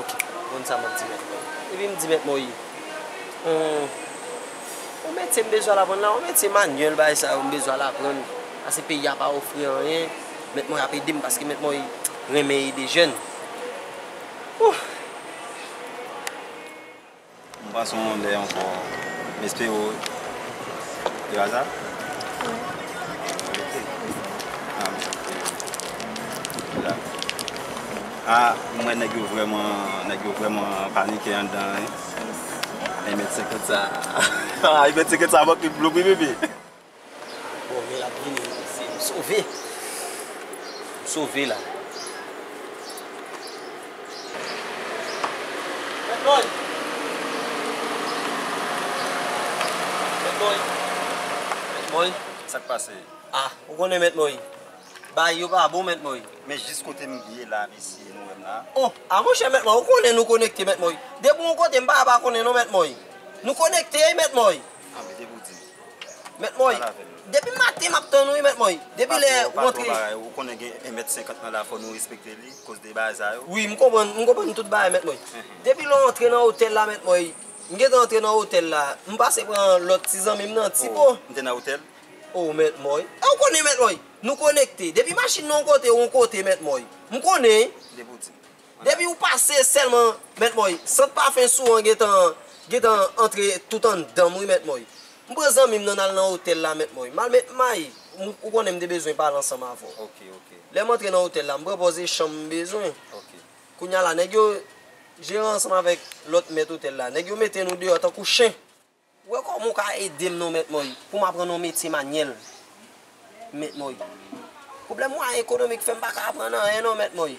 Ok, bon sa map di mèt mwen. Epi m di mèt mwen oye, on, on metye m bezwen al aprann la, on metye manyèl bagay sa yo m bezwen al aprann, pase peyi a pa ofri anyen, mèt mwen ap ede m paske mèt mwen renmen ede jèn. Ohh. M pa son w lè ankò m espere w de aza ok a m santi m la a m wè nèg yo vrèman nèg yo vrèman panike anndan an wi 1 mèt 50 sa 1 mèt 50 sa manke m blofe bebe. Bon men lap vini m panse m sove m sove la. Bad boy Bad boy Bad boy Sak pase? Ah ou konnen Mèt Moy Bagay yo pa bon Mèt Moy. Men jis kote m ye la mesye nou wè m la? Oh ah monchè Mèt Moy ou konnen nou konekte Mèt Moy. Depi w yon kote m pa ka pa konnen non Mèt Moy. Nou konekte wi Mèt Moy. Anmweyy depi w di m. Mèt Moy, depi maten map tann ou wi mèt Moy, depi lè ou antre. Ou konnen gen 1 mèt 50 nan la fò nou respekte li koz de bagay sa yo. Wi m konprann, m konprann tout bagay mèt Moy. Depi lè ou antre nan otèl la mèt Moy, m gentan antre nan otèl la, m pase pran lòt ti zanmi m nan ti po. M te nan otèl. Oh mèt Moy, e ou konnen mèt Moy, nou konekte, depi machin nan yon kote ou yon kote mèt Moy, m konnen wi. Depi ou di. Depi ou pase selman Mèt Moy, sant pafen sou an gentan gentan antre tout anndanm wi Mèt Moy. M pran zanmim nan nal nan otèl la Mèt Moy. Mal met may, m ou konnen m te bezwen pale ansanm avè w. Lèm antre nan otèl la, m pran pòze chanm m bezwen. Kounya la nèg yo, jeran ansanm avèk lòt mèt otèl la, nèg yo mete nou deyò tankou chen. Wè kòman ou ka ede m non mèt Moy pou m aprann yon metye manyèl mèt Moy. Pwoblèm mwayen ekonomik fè m pa ka aprann anyen non mèt Moy.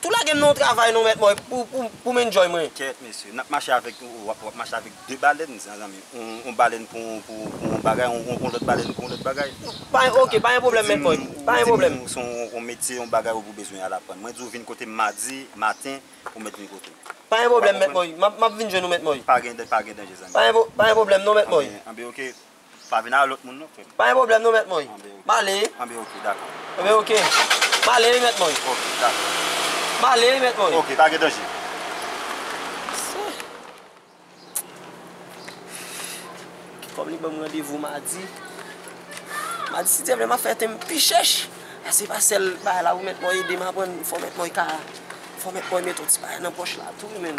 Tou lagem nan yon travay non mèt mwen poum enjoy mwen. Kèèt mesye, nap mache avèk ou wap wap mache avèk 2 balèn mezanmi, yon balèn pou yon bagay yon lòt balèn pou yon lòt bagay. Ok, pa gen pwoblèm mèt mwen, pa gen pwoblèm. Ou di m se yon metye, yon bagay ou bezwen al aprann. Mwen di w vin kote m madi maten ou mèt vin kote m. Pa gen pwoblèm mèt mwen, map vin jwenn ou mèt mwen. Pa gen danje zanmi. Pa gen pwoblèm non mèt mwen. Anben ok. Pa vin avè lòt moun non frèm. Pa gen pwoblèm non mèt mwen. M ale wi. Anben ok dakò. Anben ok. M ale wi mèt mwen. Ok dakò. M ale wi mèt mwen. Ok pa gen danje. Mesye. Ki kòm li banm randevou madi. Madi si Dye vle m ap fè tem pi chèch. A se pa sèl bagay la wi mèt mwen ede m aprann fò mèt mwen ka fò mèt mwen met yon ti bagay nan pòch la tou wi menn.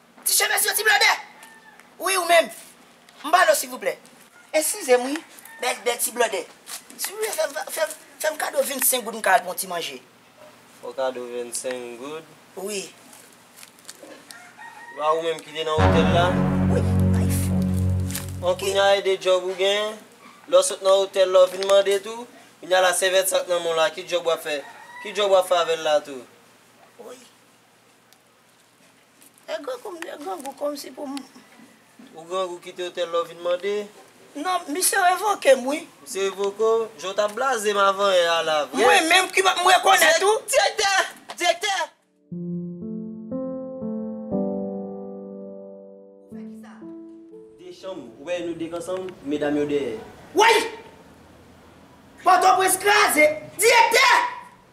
Ti chemes yo ti blodè. Wi ou menm. M ba nou silvouplè. Eskizem wi bèl bèl ti blòdè si w fèm fèm fèm kado 25 goud m ka al pran w ti manje. Fò kado 25 goud. Wi. Se pa ou menm ki te nan otèl la? Wi, bay fo. Bon kounya e 2 djòb ou gen, lè w sot nan otèl la w vin mande tou, kounya la sèvyèt sa k nan men w la ki djòb wap fè? Ki djòb wap fè avèl la tou? Wi. E grangou m e grangou komsi pou m. Ou grangou kite otèl la ou vin mande. Non, misye revoke m wi. Misye revoke w? Jan w t ap blaze m avan yè a la vre. Mwen menm ki pa m rekonèt ou. Direktè! Direktè! Ou fè kisa? De chanm, ou wè nou dek ansanm, medam yo dèyè. Woy! Pòtoprens kraze! Direktè!